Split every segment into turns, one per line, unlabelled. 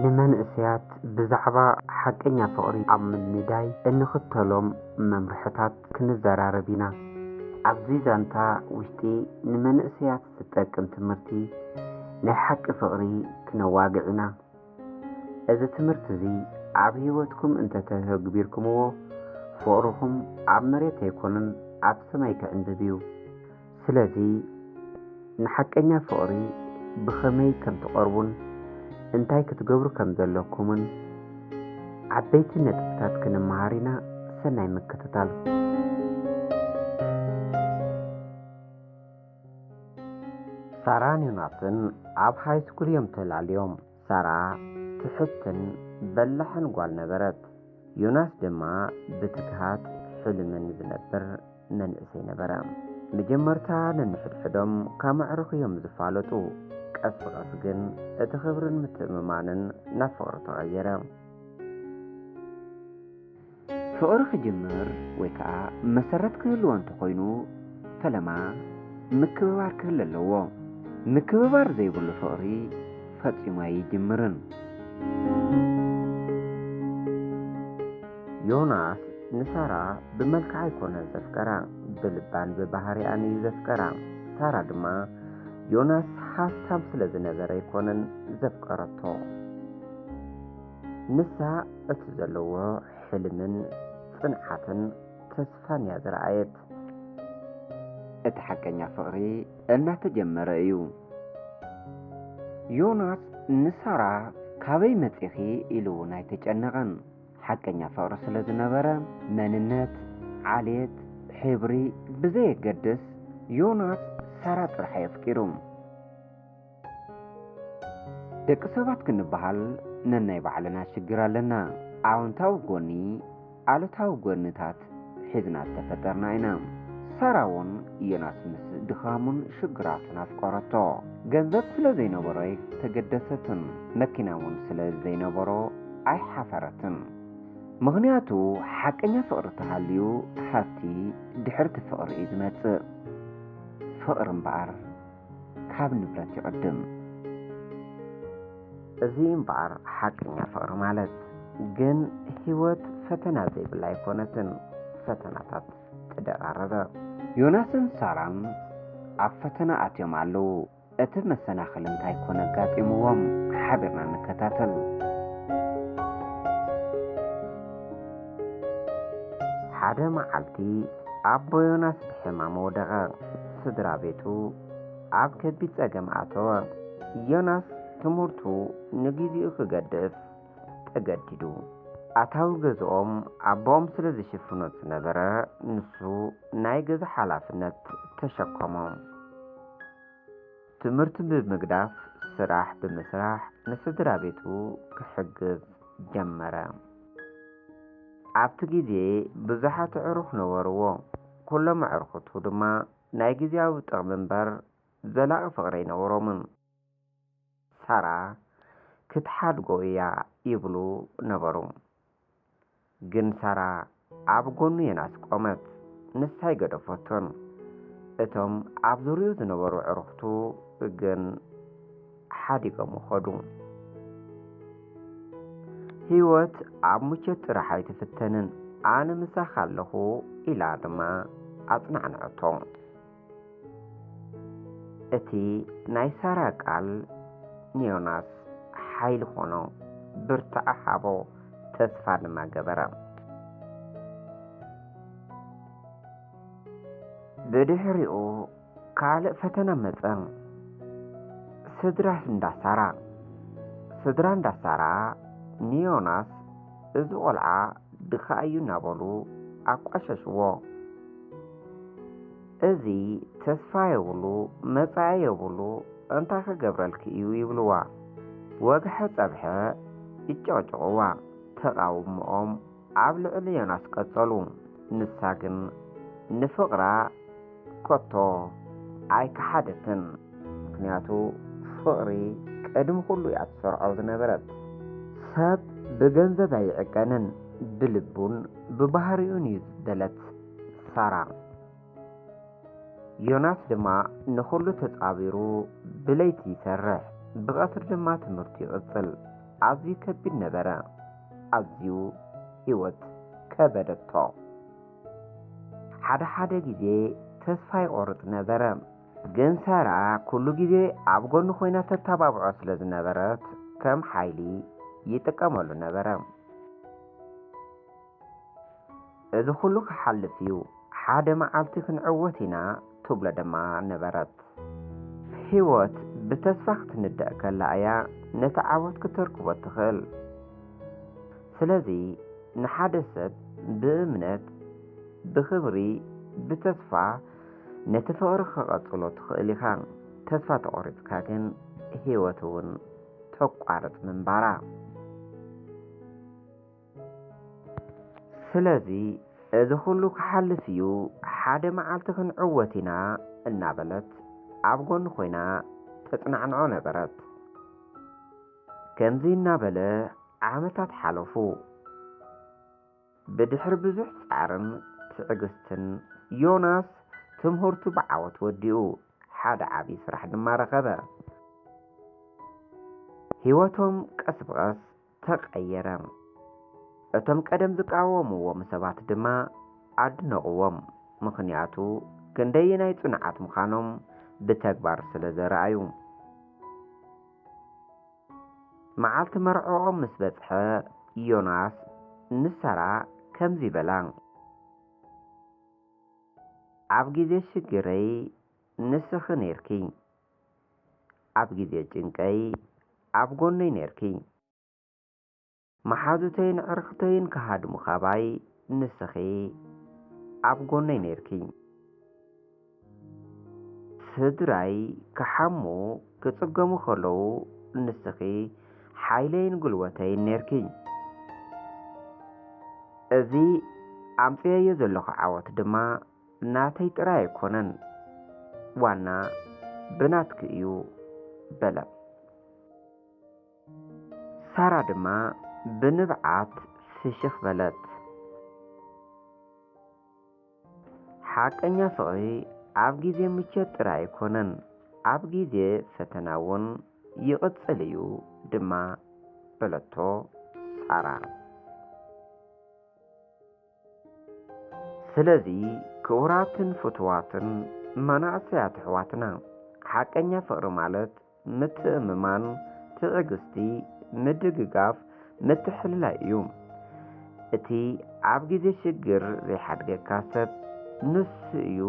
ንመንእሰያት ብዛዕባ ሓቀኛ ፍቕሪ ኣብ ምንዳይ እንኽተሎም መምርሕታት ክንዘራረብ ኢና። ኣብዚ ዛንታ ውሽጢ ንመንእሰያት ዝጠቅም ትምህርቲ ናይ ሓቂ ፍቕሪ ክነዋግዕ ኢና። እዚ ትምህርቲ እዚ ኣብ ሕይወትኩም እንተ ተተግቢርኩምዎ፣ ፍቕርኹም ኣብ መሬት ኣይኮነን ኣብ ሰማይ ክዕምብብ እዩ። ስለዚ ንሓቀኛ ፍቕሪ ብኸመይ ከም ትቐርቡን እንታይ ክትገብሩ ከም ዘለኩምን ዓበይቲ ነጥብታት ክንመሃር ኢና። ሰናይ ምክትታል። ሳራን ዮናስን ኣብ ሃይስኩል እዮም ተላልዮም። ሳራ ትሕትን በላሕን ጓል ነበረት። ዮናስ ድማ ብትግሃት ሕልምን ዝነብር መንእሰይ ነበረ። መጀመርታ ነንሕድሕዶም ካብ መዕርኽ እዮም ዝፋለጡ። ቀስ ብቐስ ግን እቲ ክብርን ምትእምማንን ናብ ፍቕሪ ተቐየረ። ፍቕሪ ክጅምር ወይ ከኣ መሰረት ክህልዎ እንተኾይኑ ፈለማ ምክብባር ክህሉ ኣለዎ። ምክብባር ዘይብሉ ፍቕሪ ፈጺሙ ኣይጅምርን። ዮናስ ንሳራ ብመልክዓ ኣይኮነን ዘፍቀራ ብልባን ብባህሪኣን እዩ ዘፍቀራ። ሳራ ድማ ዮናስ ሃፍታም ስለዝነበረ ኣይኮነን ዘፍቀረቶ። ንሳ እቲ ዘለዎ ሕልምን ጽንዓትን ተስፋን እያ ዝረኣየት። እቲ ሓቀኛ ፍቕሪ እናተጀመረ እዩ። ዮናስ ንሳራ ካበይ መጺኺ ኢሉ እውን ኣይተጨነቐን። ሓቀኛ ፍቕሪ ስለ ዝነበረ መንነት፣ ዓሌት፣ ሕብሪ ብዘየገድስ ዮናስ ሳራ ጥራሕ እዩ ኣፍቂሩ። ደቂ ሰባት ክንበሃል ነናይ ባዕልና ሽግር ኣለና። ኣወንታዊ ጎኒ ኣሉታዊ ጎንታት ሒዝና ዝተፈጠርና ኢና። ሳራ እውን ዮናስ ምስ ድኻሙን ሽግራቱን ኣፍቀረቶ። ገንዘብ ስለ ዘይነበሮ ኣይተገደሰትን፣ መኪና እውን ስለ ዘይነበሮ ኣይሓፈረትን። ምኽንያቱ ሓቀኛ ፍቕሪ ተሃልዩ ሃብቲ ድሕርቲ ፍቕሪ እዩ ዝመጽእ። ፍቕሪ እምበኣር ካብ ንብረት ይቕድም። እዚ እምበኣር ሓቀኛ ፍቕሪ ማለት ግን ህይወት ፈተና ዘይብላ ኣይኮነትን፣ ፈተናታት ተደራረበ። ዮናስን ሳራን ኣብ ፈተና ኣትዮም ኣለዉ፣ እቲ መሰናኽል እንታይ ኮን ኣጋጢምዎም? ሓቢርና ንከታተል። ሓደ መዓልቲ ኣቦ ዮናስ ብሕማም ወደቐ። ስድራ ቤቱ ኣብ ከቢድ ጸገም ኣተወ። ዮናስ ትምህርቱ ንግዜኡ ክገድፍ ተገዲዱ። ኣታዊ ገዝኦም ኣቦኦም ስለ ዝሽፍኖ ዝነበረ፣ ንሱ ናይ ገዛ ሓላፍነት ተሸከሞ። ትምህርቱ ብምግዳፍ ስራሕ ብምስራሕ ንስድራ ቤቱ ክሕግዝ ጀመረ። ኣብቲ ግዜ ብዙሓት ኣዕሩኽ ነበርዎ። ኩሎም ኣዕርኹቱ ድማ ናይ ግዝያዊ ጥቕሚ እምበር ዘላቒ ፍቕሪ ኣይነበሮምን። ሳራ ክትሓድጎ እያ ይብሉ ነበሩ። ግን ሳራ ኣብ ጎኑ ዮናስ ቆመት። ንሳ ኣይገደፈቶን። እቶም ኣብ ዙርይኡ ዝነበሩ ኣዕርኹቱ ግን። ሓዲጎሞ ኸዱ። ህይወት ኣብ ምቾት ጥራሕ ኣይትፍተንን፣ ኣነ ምሳኻ ኣለኹ ኢላ ድማ ኣጽናዕንዐቶ። እቲ ናይ ሳራ ቃል ንዮናስ ሓይሊ ኾኖ፣ ብርታዐ ሃቦ፣ ተስፋ ድማ ገበረ። ብድሕሪኡ ካልእ ፈተና መጸ። ስድራ እንዳ ሳራ። ስድራ እንዳ ሳራ ንዮናስ እዚ ቆልዓ ድኻ እዩ እናበሉ ኣቋሸሽዎ። እዚ ተስፋ የብሉ መጻኢ የብሉ እንታይ ክገብረልኪ እዩ ይብልዋ። ወግሐ ጸብሐ ይጨቕጭቕዋ። ተቓውምኦም ኣብ ልዕሊ ዮናስ ቀጸሉ። ንሳ ግን ንፍቕራ ከቶ ኣይከሓደትን። ምኽንያቱ ፍቕሪ ቅድሚ ኩሉ እያ ትሰርዖ ዝነበረት። ሰብ ብገንዘብ ኣይዕቀንን ብልቡን ብባህሪኡን እዩ ዝበለት ሳራ። ዮናስ ድማ ንኹሉ ተጻቢሩ ብለይቲ ይሰርሕ፣ ብቐትሪ ድማ ትምህርቱ ይቕጽል። ኣዝዩ ከቢድ ነበረ። ኣዝዩ ህይወት ከበደቶ። ሓደ ሓደ ግዜ ተስፋ ይቖርጽ ነበረ። ግን ሳራ ኩሉ ግዜ ኣብ ጎኑ ኮይና ተተባብዖ ስለ ዝነበረት ከም ሓይሊ ይጥቀመሉ ነበረ። እዚ ኹሉ ክሓልፍ እዩ፣ ሓደ መዓልቲ ክንዕወት ኢና ትብሎ ድማ ነበረት። ህይወት ብተስፋ ክትንደቕ ከላ እያ ነቲ ዓወት ክተርክቦ እትኽእል። ስለዚ ንሓደ ሰብ ብእምነት፣ ብኽብሪ፣ ብተስፋ ነቲ ፍቕሪ ክቐጽሎ ትኽእል ኢኻ። ተስፋ ተቖሪጽካ ግን ህይወት እውን ተቋርጽ ምንባራ። ስለዚ እዚ ኹሉ ክሓልፍ እዩ ሓደ መዓልቲ ክንዕወት ኢና እናበለት ኣብ ጎኑ ኮይና ተፅናዕንዖ ነበረት። ከምዚ እናበለ ዓመታት ሓለፉ። ብድሕሪ ብዙሕ ጻዕርን ትዕግስትን ዮናስ ትምህርቱ ብዓወት ወዲኡ ሓደ ዓብዪ ስራሕ ድማ ረኸበ። ህይወቶም ቀስ ብቐስ ተቐየረ። እቶም ቀደም ዝቃወምዎም ሰባት ድማ ኣድነቕዎም፣ ምኽንያቱ ክንደየናይ ጽኑዓት ምዃኖም ብተግባር ስለ ዘርኣዩ። መዓልቲ መርዕኦም ምስ በጽሐ፣ ዮናስ ንሳራ ከምዚ በላ። ኣብ ግዜ ሽግረይ ንስኺ ኔርኪ፣ ኣብ ግዜ ጭንቀይ ኣብ ጎነይ ኔርኪ። መሓዙተይን ኣዕርኽተይን ክሃድሙ ካባይ ንስኺ ኣብ ጎነይ ኔርኪ። ስድራይ ክሓሙ ክጽገሙ ከለዉ ንስኺ ሓይለይን ጉልበተይን ኔርኪ። እዚ ኣምጺኤዮ ዘለኹ ዓወት ድማ ናተይ ጥራይ ኣይኮነን ዋና ብናትኪ እዩ በለ። ሳራ ድማ ብንብዓት ፍሽኽ በለት። ሓቀኛ ፍቕሪ ኣብ ግዜ ምቾት ጥራይ ኣይኮነን፣ ኣብ ግዜ ፈተና እውን ይቕጽል እዩ ድማ በለቶ ሳራ። ስለዚ ክቡራትን ፍቱዋትን መናእሰያት ኣሕዋትና፣ ሓቀኛ ፍቕሪ ማለት ምትእምማን፣ ትዕግስቲ፣ ምድግጋፍ፣ ምትሕልላይ እዩ። እቲ ኣብ ግዜ ሽግር ዘይሓድገካ ሰብ ንሱ እዩ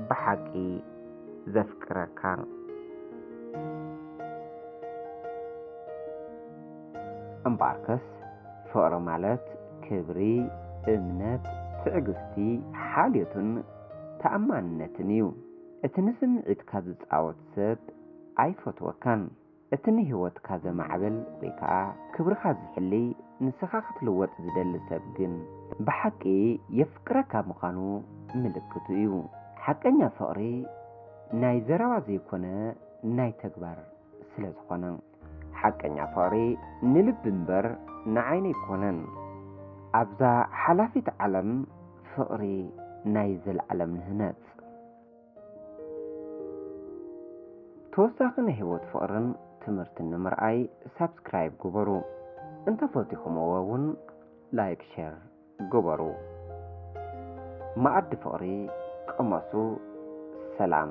ብሓቂ ዘፍቅረካ። እምበኣርከስ ፍቕሪ ማለት ክብሪ፣ እምነት፣ ትዕግስቲ፣ ሓልዮትን ተኣማንነትን እዩ። እቲ ንስምዒትካ ዝጻወት ሰብ ኣይፈትወካን። እቲ ንህይወትካ ዘማዕብል ወይ ከኣ ክብርኻ ዝሕሊ ንስኻ ክትልወጥ ዝደሊ ሰብ ግን ብሓቂ የፍቅረካ ምዃኑ ምልክቱ እዩ። ሓቀኛ ፍቕሪ ናይ ዘረባ ዘይኮነ ናይ ተግባር ስለዝኾነ። ሓቀኛ ፍቕሪ ንልቢ እምበር ንዓይኒ ኣይኮነን ኣብዛ ሓላፊት ዓለም ፍቕሪ ናይ ዘልኣለም ንህነጽ። ተወሳኺ ናይ ሂወት ፍቕርን ትምህርትን ንምርኣይ ሳብስክራይብ ግበሩ እንተፈቲኹምዎ ውን ላይክ ሸር ግበሩ መኣዲ ፍቕሪ ቅመሱ ሰላም።